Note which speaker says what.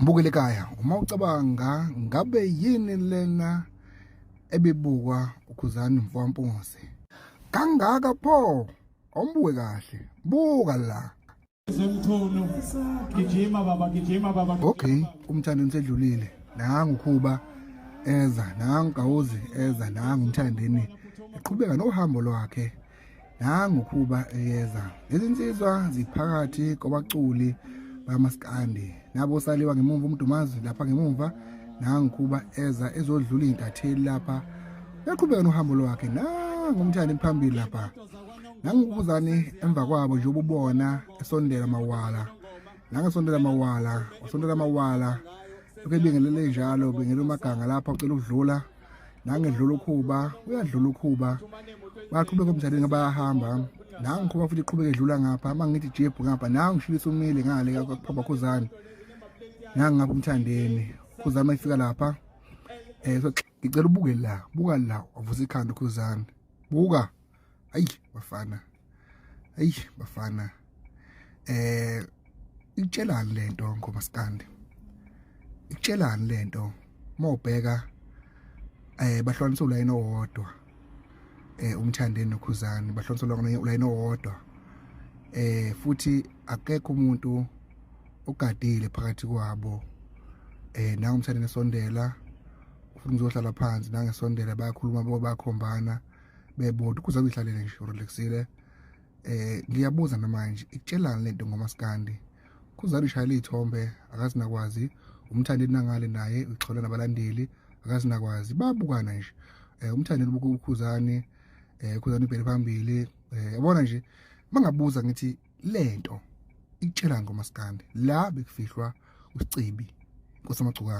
Speaker 1: Mbukeli kaya uma ucabanga ngabe yini lena ebibukwa ukhuzani mfwampunzi kangaka pho ombuke kahle buka la zemthono
Speaker 2: gijima baba gijima baba okay umthando
Speaker 1: nisedlulile nangu khuba eza nangu gawuzi eza nangu umthandeni eqhubeka nohambo lwakhe nangu kuba eyeza lezinsizwa ziphakathi kwabaculi bamaskandi nabo saliwa ngemumva umdumazi lapha ngemumva nangu kuba eza ezodlula intatheli lapha eqhubeka nohambo lwakhe nangu umthandi phambili lapha nangikuzani emva kwabo nje ububona esondela mawala nangesondela mawala usondela mawala ukebingelele njalo bingela umaganga lapha ucela ukudlula nangedlula ukhuba uyadlula ukhuba baqhubeka emdlalweni abayahamba nangu khuba futhi iqhubeka edlula ngapha uma ngithi jebhu ngapha nangu ngishilisa umile ngale kaphamba khuzane nangu ngapha umthandeni khuzane mayifika lapha um eh, so ngicela ubuke la buka la wavusa ikhanda ukhuzane buka ayi bafana ayi bafana eh itshelani lento ngoba sikande itshelani lento mawubheka eh bahlwanisa ulayini owodwa eh umthandeni nokhuzani bahlwanisa ulayini owodwa eh futhi akekho umuntu ogadile phakathi kwabo eh nangu umthandeni sondela futhi ngizohlala phansi nangesondela bayakhuluma bo bakhombana bebodwa kuze ngihlalele nje urelaxile eh ngiyabuza namanje ikutshelani lento ngomaskandi kuzali ushayela iy'thombe akazinakwazi umthandi enangale naye uxhola nabalandeli akazinakwazi babukana nje um umthandi ubuka ukhuzane um eh, khuzane ubhele phambili um eh, yabona nje mangabuza ngithi le nto ikutshela ngomasikandi la bekufihlwa usicebi nkosi amagcukane